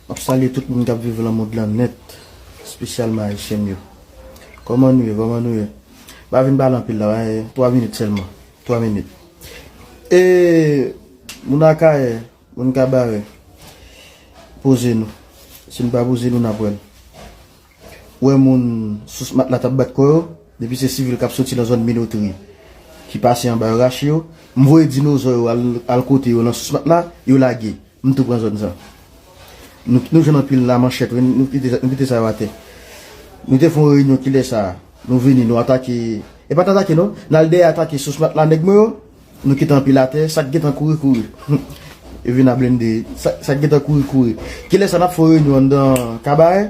Map salye tout moun kap viv lan mond lan nèt spesyalman ayisyen m yo Kòman nou ye kòman nou ye M pa vin pale anpil la wi 3 minit sèlman 3 minit Ee moun akayè moun kabarè poze nou si nou pa poze nou nap wèl. wè moun sous matla tap bat kò yo, depi se sivil kap soti nan zòn minotri ki pase anba yo rache yo, m voye dinozò yo al kote yo nan sous matla, yo lage, m tou pran zòn sa. Nou jwenn anpil la manchèt wi, nou kite sa yo atè. Nou te fon reyinyon kilè sa, nou vini nou atake, e pat atake non, nal dèyè atake sous matla nèg mwen yo, Nou kite anpil atè, sak gentan kouri kouri. Yo vin a blende, sak gentan kouri kouri. Kilè sa nap fè yon reyinyon anndan kabarè?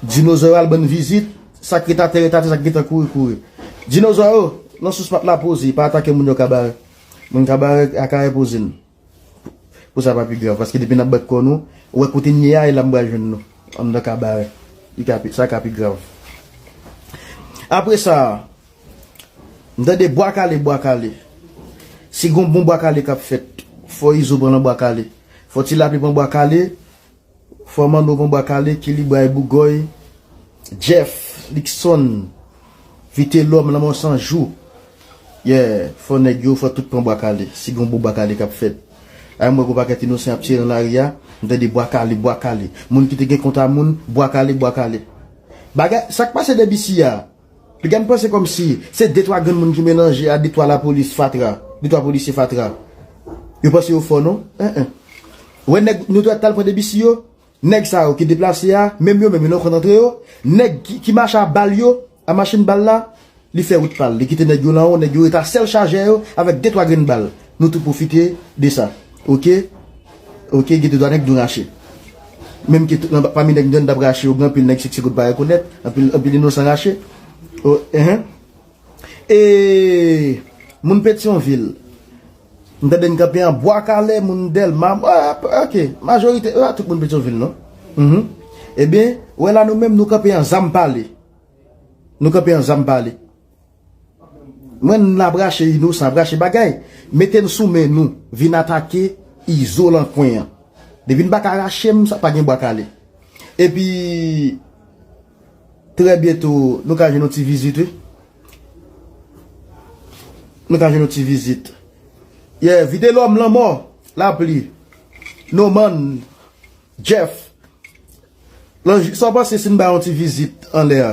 Dinozò yo al ban n vizit, sak ret atè ret atè sak gentan kouri kouri. Dinozò yo, nan sous pat la poze, pa atake moun yo kabarè. Moun kabarè akayè poze n. Pou sa pa pi grav. Paske depi nan bat kò nou, ou wè kote n ye a, e la m pral jwenn nou. Anndan kabarè. Li ka pi, sa ka pi grav. Apre sa, m tande bwa kale, bwa kale. Si gon bon bwa kale k ap fèt, fò Izo pran nan bwa kale. Fò ti Lapli pran bwa kale. Frè Manno Bon Bwa Kale, Kelly Bray Bougòy, Jeff, Luckson, Vitelòm, Lanmò San Jou, yeah, fò nèg yo, fò tout pran Bwa Kale, si gen yon bon Bwa Kale k ap fèt. La m wè gwo pakèt inosan y ap tire nan lari a, m tande Bwa Kale, Bwa Kale. Moun ki te gen kont a moun, Bwa Kale, Bwa Kale. Bagay, sa k pase Debisi a? Piga n panse kòmsi se de twa granmoun ki melanje a de twa lapolis fatra, de twa polisye fatra. Yo panse yo fò non. Anh anh. Ou wè nèg nou t'al pran Debussy yo? Nèg sa yo ki deplase a, menm yo menm yo nan kont antre yo. Nèg ki mache a bal yo, a machin bal la, li fè wout pa'l. Li kite nèg yo lanwo, nèg yo rete a sèl chajè yo avèk de twa grenn bal. Nou tou pwofite de sa. Ok. Ok gen de twa nèg dwe rache. Menm ke nan pami nèg mtande tap rache yo gen anpil nèg seksye kot pa rekonèt, anpil anpil inosan rache. O ehe E moun petyon vil mtande n kanpe an bwa kale moun delma ok majorite e pa tout moun petyon vil non Humm ebyen wè la nou menm nou kanpe an zam pale nou kanpe an zam pale. Mwen n la brache inosan brache bagay mete n sou men nou vin atake izo lan kwen an depi n paka rache m sa pa gen bwa kale epi trè byento nou ka jwenn yon ti vizit wi nou ka jwenn yon ti vizit ye vide lòm lanmò lapli noman jeff sa w panse si n bay yon ti vizit anlè a.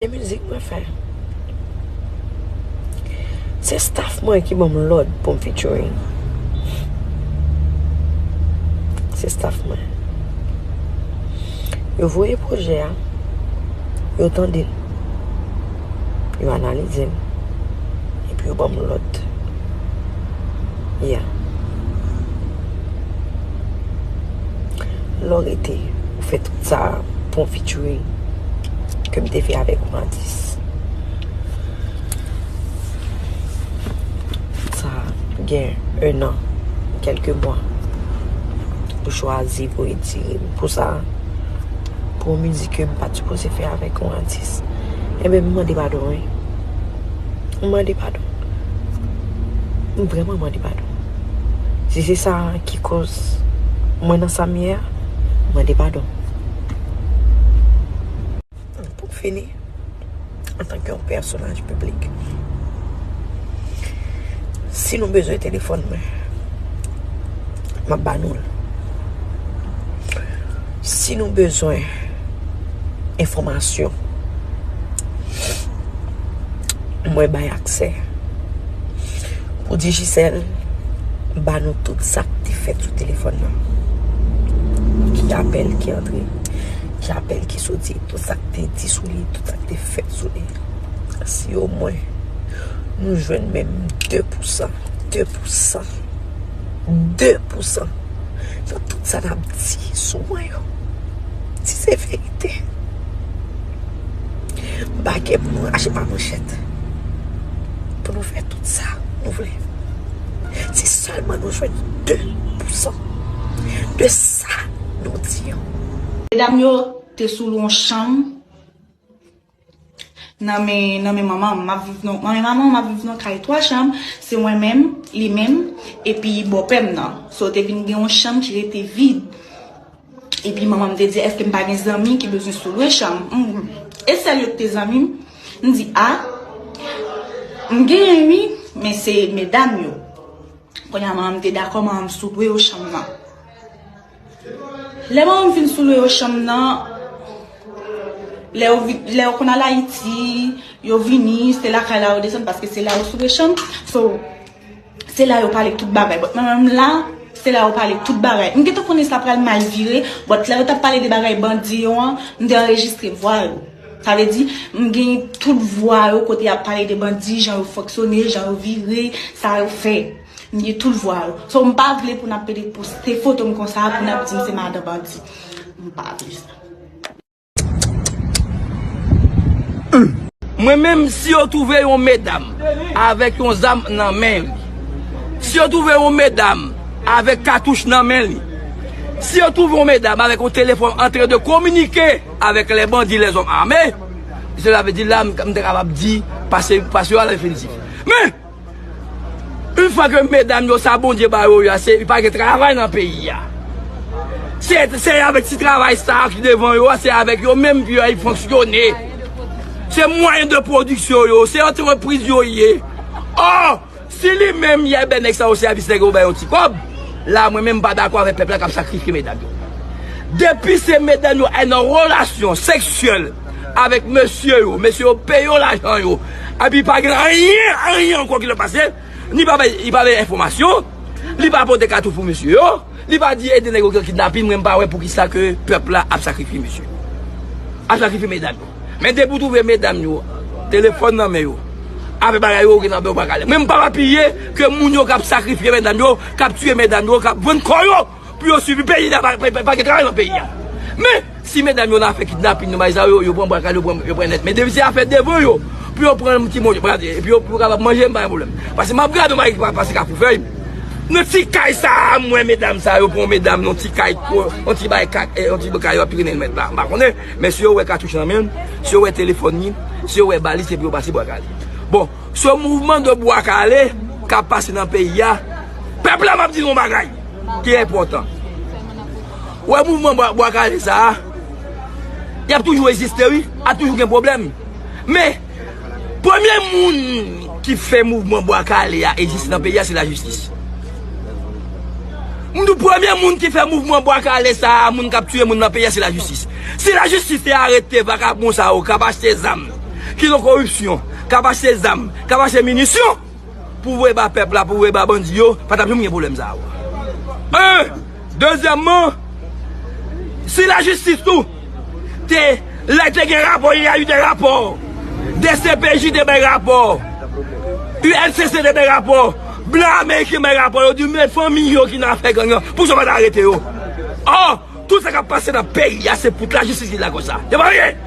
E mizik mwen fè. Se staff mwen ki banm lòd pou m featuring. Se staff mwen. Yo voye pwojè a, yo tande l, yo analize l, epi yo banm lòd. Yeah. Lè w rete, ou fè tout sa pou yon featuring ke m te fè avèk ou an 10. Sa gen 1 an, kèlke mwa. Ou chwazi pou retire m pou sa. Pou yon mizik ke m pa t sipoze fè avèk yon atis. Enben m mande padon wi. M mande padon. M vrèman mande padon. Si se sa ki koz mwen nan sa m ye a, m mande padon. Pou m fini, antanke yon pèsonaj piblik, si nou bezwen telefòn mwen, m ap ba nou l. Si nou bezwen enfòmasyon, mwen bay aksè. Pou Digicel ba nou tout sa k te fèt sou telefòn nan. Ki apèl ki antre, ki apèl ki soti, tout sa k te di sou li, tout sa k te fèt sou li. Si o mwen nou jwenn menm 2 pousan, 2 pousan, 2 pousan nan tout sa n ap di sou mwen yo, si se verite. Bague pou nou rache pa manchèt. Pou nou fè tout sa nou vle. Si sèlman nou jwenn 2 pou 100 de sa nou di an. Medam yo te sou lou yon chanm nan men nan men manman m. M ap viv nan nan men manman m ap viv nan kay 3 chanm. Se mwen menm, li menm epi bòpè m nan. So te vin gen yon chanm ki rete vid. Epi manman m te di, èske m pa gen zanmi ki bezwen sou lwe chanm? M di, e sèl yo ki te zanmi m? M di, a, m genyen wi, men se medam yo. Kounye a manman m te dakò manman m sou lwe yo chanm nan. Lè manman m fin sou lwe yo chanm nan, lè yo konn al Ayiti, yo vini, se lakay la yo desann paske se la yo sou lwe chanm. Se la yo pale tout bagay. But mwen menm la, se la yo pale tout bagay. M gentan konnen sa pral mal vire, but lè yo tap pale de bagay bandi yo an, m te anrejistre vwa yo. Sa vle di, m gen tout vwa yo kote yap pale de bandi, jan yo fonksyone, jan yo vire, sa yo fè. M gen tout vwa yo. So m pa vle pou nap pede poste foto m konsa pou nap di m se madan bandi. M pa vle sa. Mwen menm si yo twouve yon medam avèk yon zam nan men li, si yo twouve yon medam avèk katouch nan men li, si yo twouve yon medam avèk yon telefòn antren de kominike avèk lè bandi lè zòm ame, se sa vle di la m te kapab di pase yo al al fin di. Men! Une fwa ke medam yo sa Bondye ba yo ya se pa gen travay nan peyi ya. Se se avèk ti travay sa ki devan yo a se avèk yo menm pou yo fonksyone. Se mwayen de pwodiksyon yo, se antrepriz yo ye. Or, si li menm ya bè nèg sa yo sèvis nèg yo pou bay yo ti kòb, la mwen menm m pa dakò avèk pèp la k ap sakrifye medam yo. Depi se medam yo al nan relasyon seksyèl. avèk mesye yo, mesye yo peye yo lajan yo, epi pa gen anyen, anyen ankò ki lè pase, li pa bay, li pa bay enfòmasyon, li pa pote katouch pou mesye yo, li pa di ede nèg yo ki nan kidnapin, mwen pa wè poukisa ke pèp la ap sakrifye mesye yo, ap sakrifye medam yo. Men depi w twouve medam yo, telefòn nan men yo, avèk bagay yo gen nan men yo, ou pa ka ale. Mwen m pap apiye ke moun yo k ap sakrifye medam yo, k ap tiye medam yo, k ap vann kò yo! pou yo swivi peyi la pa gen travay nan peyi ya men si medam yo la fè kidnapin nou bay zam yo yo pran bwa kale yo pran yo pran nèt men depi se afè devan yo pou yo pran yon ti moun epi yo pou kapab manje m pa gen pwoblèm paske m ap gad yon bagay ki pase kafou fèy nan ti kay sa a m wè medam sa yo pran medam nan ti kay yon ti bay kat yon ti kay yo ap trennen l mèt la m pa konnen men si yo wè katouch nan men l si yo wè telefòn li si yo wè balis se pou yo pase bwa kale bon se mouvman de bwa kale k ap pase nan peyi ya pèp la m ap di nou yon bagay. ki enpòtan. Ou wè mouvman Bwa Kale sa a, y ap toujou egziste wi, ap toujou gen pwoblèm. Men, premye moun ki fè mouvman Bwa Kale a egziste nan peyi a, se lajistis. M di w, premye moun ki fè mouvman Bwa Kale sa a, moun k ap tiye moun nan peyi a, se lajistis. Si lajistis te arete vakabon sa yo k ap achte zam, ki nan koripsyon, k ap achte zam, k ap achte minisyon, Pou voye ba pèp la pou voye ba bandi yo pa tap janm gen pwoblèm sa yo. 1, Dezyèmman, si lajistis tou te lè te gen rapò li a li te rapò, dcpj te bay rapò, UNCC te bay rapò, blan ameriken bay rapò yo di men fanmi yo ki nan afè gang lan poukisa yo pa ta arete yo. Ò! Tout sa kap pase nan peyi a se pout lajistis ki lakòz sa. Se pa anyen!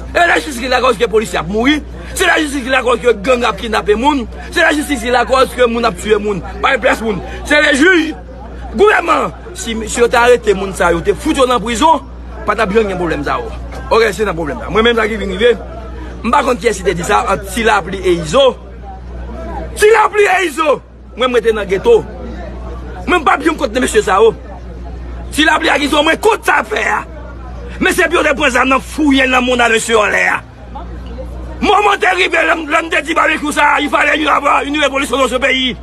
E lajistis ki lakòz ke polisye ap mouri, se lajistis ki lakòz ke gang ap kidnape moun, se lajistis ki lakòz ke moun ap tiye moun, pa gen plas moun. Se le jij, gouvènman an. Si mesye yo te arete moun sa yo, te fout yo nan prizon, pa tap janm gen pwoblèm sa yo. Ok, se nan pwoblèm sa. Mwen menm sa ki vin rive, m pa konn kiyès ki te di sa ant Tilapli e Izo. Tilapli e Izo! Mwen m rete nan geto. Mwen m pap janm kont nan mesye sa yo. Si lapli a gen son mwen kont sa yap fè a. Mesye epi yo te pran zam nan fouye nan moun a mesye anlè a. Moman te rive lè m te di babekyou sa a il fale yon ava yon revolisyon nan se peyi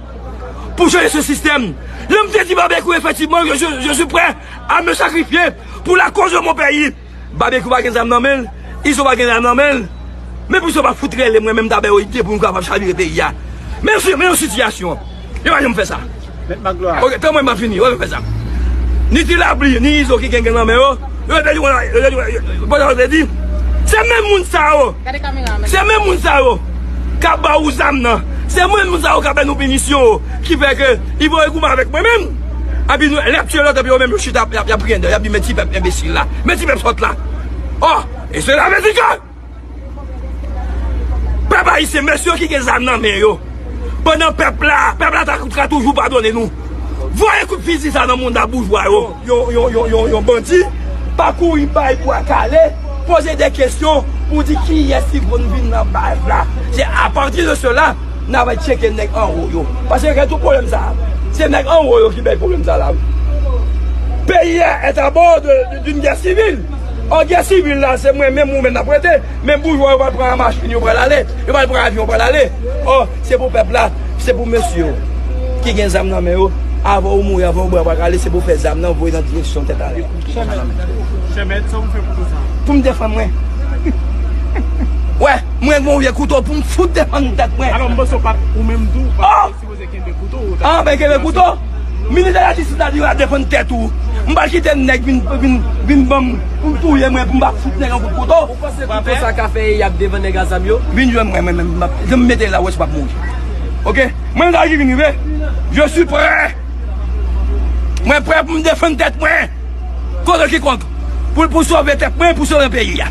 pou chanje se sistèm. Lè m te di babekyou efektivman je suis prè a me sakrifye pou lakoz de mon peyi. Babekyou pa gen zam nan menl, izo pa gen zam nan menl, men pou izo pa fout rele mwen menm ta bè yo ide pou nou kapab chavire peyi a. Mesye men yon sitiyasyon, yo pa janm fè sa. Mèt Magloire. Ok, tanpri map fini, yo pa janm fè sa. Ni Ti Lapli, ni Izo ki gen gang nan men yo, yo te di konsa, yo te di konsa, yo konn sa yo te di, se menm moun sa yo, se menm moun sa yo kap ba ou zam nan, se menm moun sa yo kap bay nou pinisyon yo ki fè ke ivoye goumen avèk mwen menm. Epi lè yap tiye lòt epi yo menm yo chita yap yap grendè yap di men ti pèp enbesil la, men ti pèp sòt la. Oh! E se la vèdi ke pèp ayisyen men sye ki gen zam nan men yo pandan pèp la, pèp la ta ka toujou padone nou. Voye kout fizi sa nan mouda boujwa yo. Yon yon yon yon yon bandi pa kouri bay bwa kale poze de kesyon pou di kiyès ki konn vin nan baz la. Se apati de sela. Nan bay tcheke nèg anwo yo. Pase gen tout pwoblèm sa a. Se nèg anwo yo ki bay pwoblèm sa la wi. Peyi a est a bord d'une guerre civile. Or guerre civile la se mwen menm ou menm n ap rete. Men boujwa yo pral pran machin yo pral ale. Yo pral pran avyon yo pral ale. Or se pou pèp la, se pou mesye yo ki gen zam nan men yo. Avan ou mouri, avan ou bra pa kale se pou fè zam nan voye nan direksyon tèt ale. Chèmèt sa ou fè kouto sa. Pou m defann mwen. Wè, mwen gon vye kouto pou m fout defann tèt mwen. Alò m panse ou pat ou menm tou ou pat sipoze kenbe kouto. A mwen kenbe kouto? Minis de la jistis la di w al defann tèt ou. M pa kite nèg vin ban m pou touye mwen pou m pa fout nèg yon kout kouto. Ou panse kouto sa ka fè eyap devan nèg a zam yo? Vin jwenn mwen mwen menm. Jan m mete la ou wè si w pap mouri. Ok? Mwen m ta di vin rive. Je suis prè! Mwen prè pou m defann tèt mwen kont kikonk pou sove tèt mwen, pou sove peyi a.